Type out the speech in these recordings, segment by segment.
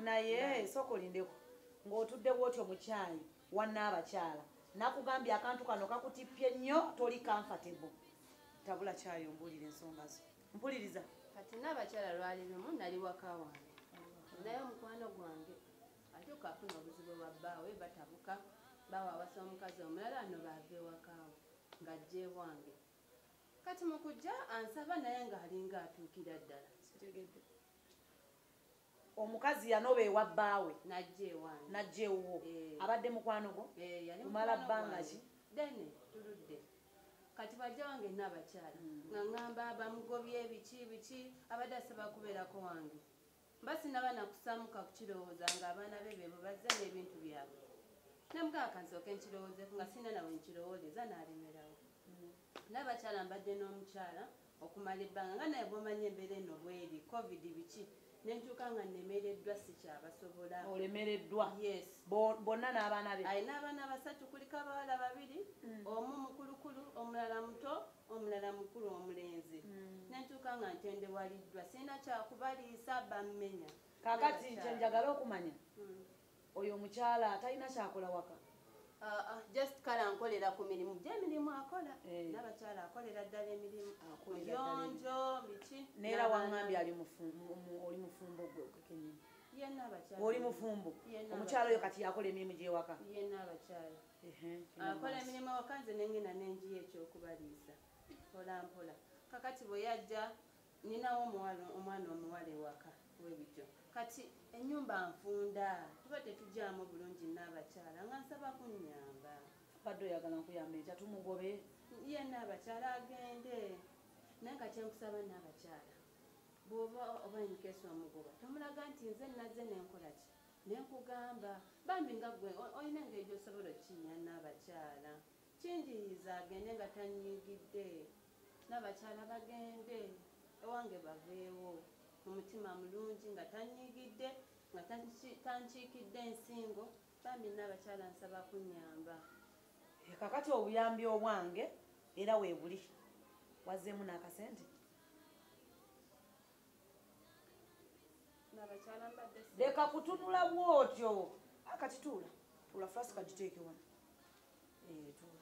naye sooka olindeko ng'otudde bwotyo mukyayi wanna abakyala nakugambye akantu kano kakutippye nnyo toli comfortable tabula kyayi ombuulira ensonga zo mpuliriza kati naabakyala lwali lumu nali waka wange naye omukwano gwange ate okafuna obuzibu bwa bbaawe batabuka baawe awasa omukazi omulala ano baava ewakaawo ng'ajja ebwange kati mukujja ansaba naye nga alinga atuukira ddala sitegedde omukazi yanoba ewa bbaawe najja ewuwo eh. abadde mukwano gwo eh, kumala bbanga ki dene tuludde kati bajja wange naabakyala hmm. nga ŋamba bamugobye biki biki abadde asaba kubeerako wange mba sinaba nakusamuka kukirowooza nga abaana be bebo bazze n'ebintu byabwe namugamba kansooke nkirowoozeko nga sirina nawe nkirowooleza n'alemerawo n'abakyala mbadde n'omukyala okumala ebbanga nga naye bwomanyi embeera eno bweri covid biki nentuuka nga nemereddwa sikyabasobola olemereddwa yes bonna n'abaana be alina abaana basatu kulika abawala babiri mm. omu mukulukulu omulala muto omulala mukulu omulenzi nentuuka nga ntendewaliddwa sirina kyakubaliisa bammenya kakati kyenjagala okumanya hmm. oyo omukyala talina kyakola waka ah, ah, just kale ankolera ku mirimu gyemirimu akola eh. nabakyala akolera ddala emirimu yonjo biki neera wangambye ali oli mufumbo gwe kenyini oli mufumbo omukyala oyo kati yakola emirimu gyewaka akola emirimu awaka nze nengenda nenjiyo ekyokubaliisa mpolampola kakati bwe yajja ninawo omuwala omwana omuwala ewaka webityo kati enyumba nfunda tuba tetujaamu bulungi naabakyala nga nsaba kunyamba badde oyagala nkuyamba ekya tumugobe ye naabakyala agende naye nga kyenkusaba naabakyala bwoba oba enkesi omugoba tomulaga nti nze nazze nenkolaki Nenkugamba bambi nga gwe olina engeri gyosobola okinya nabakyala kinjiyiza agende nga tanyigidde nabakyala bagende ewange baveewo mumutima mulungi nga tanyigidde nga tankiikidde ensingo bambi nabakyala nsaba kunyamba eh, kakati obuyambi obwange era webuli wazeemu nakasente leka kutunula bwotyo akati ah, tuula tuula flas kagiteeke wano eh, tuula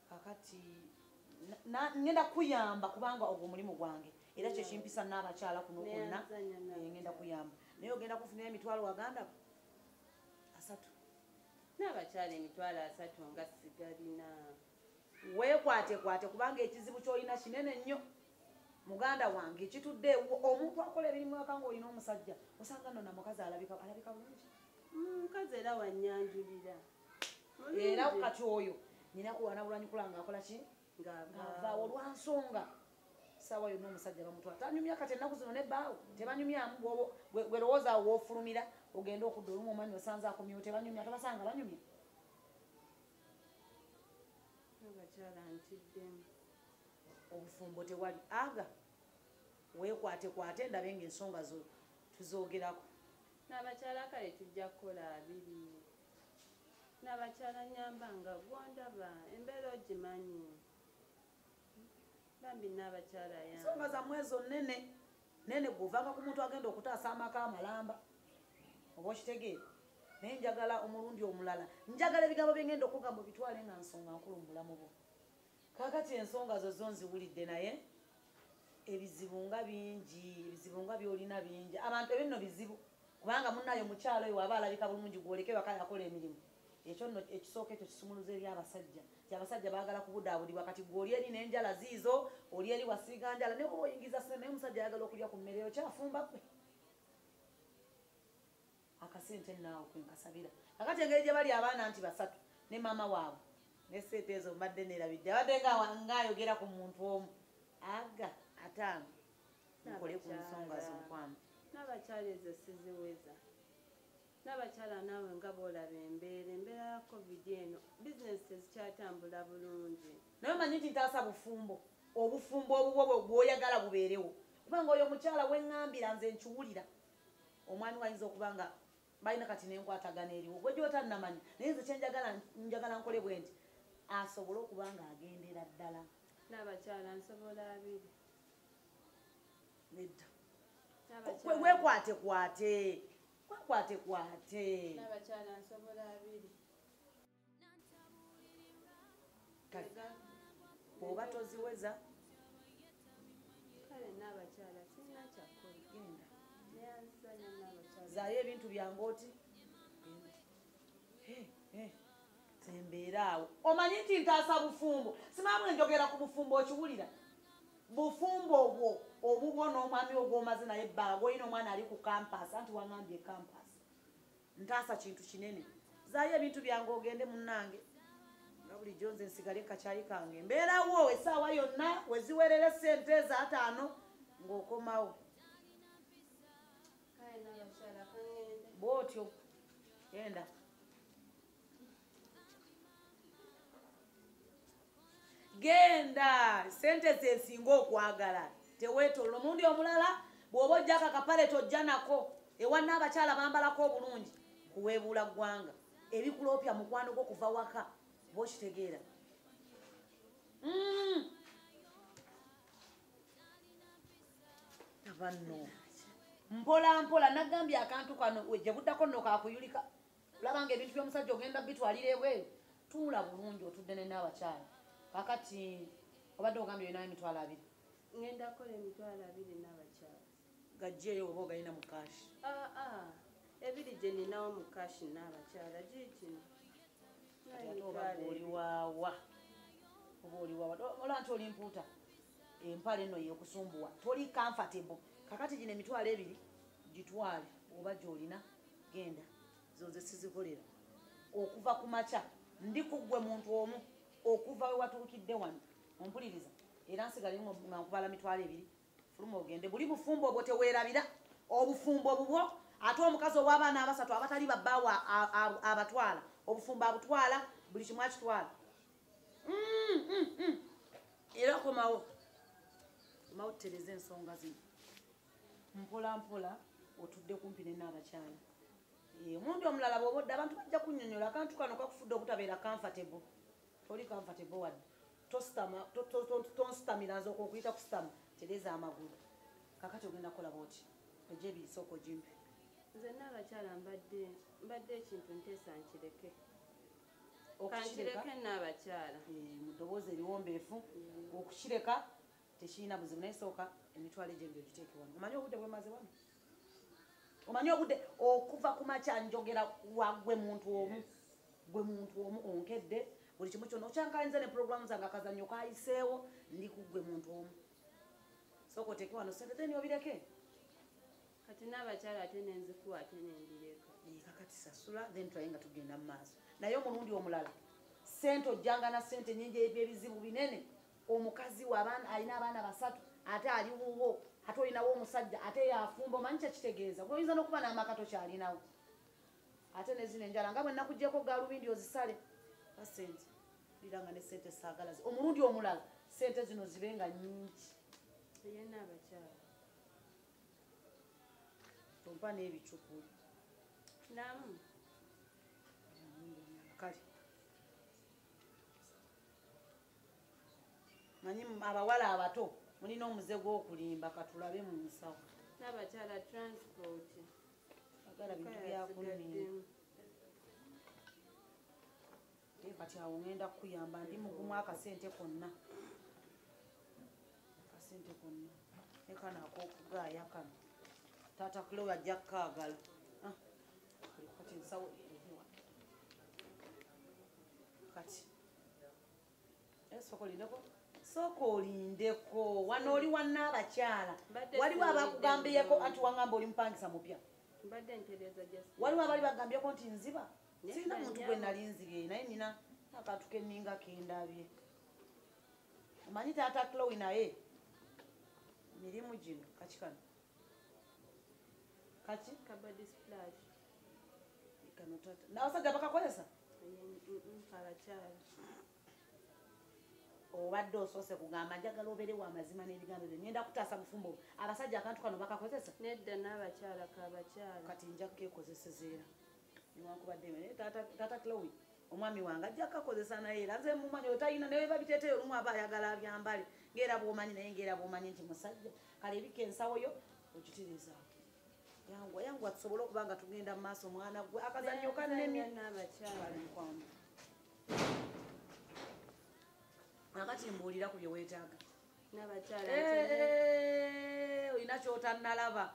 kakati ngenda kuyamba kubanga ogwo omulimu gwange era kyekimpisa naabakyala kuno kwonna eh, ngenda kuyamba naye ogenda kufunira emitwalo waganda asatu naabakyala emitwalo asatu nga sigalina weekwatekwate kubanga ekizibu kyolina kinene nnyo muganda wange kitudde ewuwo omuntu akola ebirimu aka nga olina omusajja osanga nona mukazi alabika alabika bulungi mm, mukazi era wanyanjulira era kati oyo nina kuwana bulwanyi kula nga akola ki ngavaawo olwansonga saawa yonna omusajja bamutwala tanyumya kati ennaku zino nebbaawo tebanyumyamu gwerowooza awo wofulumira ogenda okudda olumu omanyi osanze akomyewo tebanyumya tobasanga banyumya abakyala ntiddemu obufumbo tewali aga wekwate kwate ndabe nga ensonga zo tuzogerako nabakyala kale tujja kukola abiri nabakyala nyamba nga gwondaba embeera ogimanyi bambi n'abakyala ya nsonga za mwezi onene nene guvanga ku muntu agenda okutaasa amaka amalamba oba okitegeera naye njagala omulundi omulala njagala ebigambo bye ngenda okugamba bitwale nga nsonga nkulu mu bulamu bwo kakati ensonga zo zo nziwulidde naye ebizibu nga bingi ebizibu nga byolina bingi abantu ebinno bizibu kubanga munayo mukyalo oyo waba alabika bulungi gwoleke waka yakola emirimu ekyo nno ekisooka ekyo kisumuluza eri abasajja ti abasajja baagala kubudaabudibwa kati gwe oli eri n'enjala ziizo oli eri wasiiga njala naye oba oyingiza sente naye omusajja ayagala okulya ku mmere okyafumba kwe akasente naawe kwenkasabira akati engeri gye bali abaana nti basatu ne maama waabwe nesente ezo mbadde neerabidde abadde ngaayogera ku muntu omu aga ataano nkole ku nsonga z'omukwano n'abakyala ezo siziweza Nabakyala naawe nga bwolaba embeera embeera ya covid eno business tezikyatambula bulungi. Naye omanyi nti ntaasa bufumbo obufumbo obubwo bwoyagala bubeerewo kubanga oyo omukyala wengambira nze nkiwulira omwami wayinza okuba nga balina kati nenkwatagana eriwo gwe gyotanamanya naye nze kyenjagala njagala nkole bwe nti asobole okuba nga agendera ddala nabakyala nsobola abiri nedda wekwatekwate Kwakwate kwate. Naba chala nsobola abiri. Kaga. Oba toziweza. Kale naba chala sina chakko. Genda. Zayo ebintu byange oti. Hey, hey. tembeeraawo omanyi nti ntaasa bufumbo simaamu enjogera ku bufumbo okiwulira bufumbo obwo obubwo n'omwami ogwomaze naye ebbanga olina omwana ali ku kampasi anti wangambye kampasi ntaasa kintu kinene zaayo ebintu byange ogende munnange nga bulijjo nze nsigale kakyayi kange mbeerawo esaawa yonna weziwerere sente ezaataano ng'okomawo bwotyo enda genda sente zezinga okwagala tewetolola omundi omulala bwoba ojjako akapale tojja nako ewanna abakyala bambalako obulungi kuweebuula ggwanga ebikuloopya mukwano gwo kuva waka bokitegeera mm. abanno mpola mpola nagambye akantu kano gye buddako nno kakuyulika laba nga ebintu byomusajja ogenda bitwalira ebweru tuula bulungi otudde nene abakyala kakati obadde ogambye olinayo emitwalo abiri ngenda kola emitwalo abiri nabakyala gajjeeyo oba ogalina mu kashi ah, ah. ebiri gye ninawo mu kashi nabakyala giikino oliwawa oba oliwawa olaba nti oli mpuuta empala eno yekusumbuwa toli comfortable kakati gino emitwalo ebiri gitwale oba gyolina genda zonze sizikolera okuva ku makya ndi kuggwe muntu omu okuva we watuukidde wano ompuliriza era nsigale nga nkubala mitwalo ebiri fuluma ogende buli bufumbo obwo teweerabira obufumbo bubwo ate omukazi ow'abaana abasatu abatali babbaawo abatwala obufumbo abutwala buli kimu akitwala mm, mm, mm. era komawo omawo tutereze ensonga zino mpola mpola otudde kumpi ne naabakyala eh, omundi omulala bwoba odde abantu bajja kunyonyola akantu kano kakufudde okutabeera comfortable toli comfortable wadde tonsitamira nze okwokuyita kusitama tereza amagulu kakati ogenda kukola bwoti oja ebiyisa okojimpi nze naabakyala mbadde mbadde ekintu nteesa nkireke okukireka naabakyala eh, mu ddoboozi eriwombeefu okukireka tekirina buzibu naye sooka emitwalo egyo ebiri ogiteeke wano omanyi obudde bwemaze wano omanyi obudde okuva ku makya njogera wagwe muntu omu gwe muntu omu onkedde buli kimu kyona okyankalinze ne puroguramu zange akazannyo kayiseewo ndi ku gwe muntu omu sooka oteeke wano sente then obireke kati n'abakyala ate nenzikuwa ate nendireka kakati sasula then tulaye nga tugenda mu maaso naye omulundi omulala sente ojjanga na sente nyingi ebyebizibu binene omukazi we abaana alina abaana basatu ate ali wuwo ate olinawo omusajja ate yafumba omanyi kyekitegeeza gwe oyinza n'okuba n'amaka tokyalinawo ate nezino enjala nga bwe nakugyeko galubindi ozisale ba sente lira nga ne sente saagalazi omulundi omulala sente zino zibe nga nyingi eyena abakyala tompa n'ebicupuli namu kale manyi abawala abato mulina omuze gwokulimba katulabe mu nsawo nabakyala transport agala bintu byakulimba kati awo ngenda kukuyamba ndi mugumu akasente konna akasente konna nekano akokugaaya kano taata kulowe ajja kukaagala ah, kati ensawo kati sooka olindeko wano oli wanna abakyala waliwo abakugambiyeko anti wangamba oli mupangisa mupya waliwo abali bagambiyeko nti nziba sirina muntu gwe nali nzibye naye nina akantu keninga kendabye omanyi taata clowi naye mirimu gino kakikano kaki kabadi splash kano tata na wasajja bakakozesa abakyala obadde osoose kugamba njagala obeere wa mazima n'ebigambo byo ngenda kutaasa bufumbo abasajja akantu kano bakakozesa nedda n'abakyala kabakyala kati nja kukekozeseza era newankubadde taata clowi omwami wange ajja kakozesa naye era nze mumanyi otayina naye babiteteyo olumu aba ayagala abyambale ngaera bwomanyi naye ngaera bwomanyi nti musajja kale ebika ensawo yo okitiriza yangwa yangwa tusobole okuba nga tugenda mu maaso mwana gwe akazanyo kanemye akati mbuulira ku bye weetaaga eh, olina kyotanalaba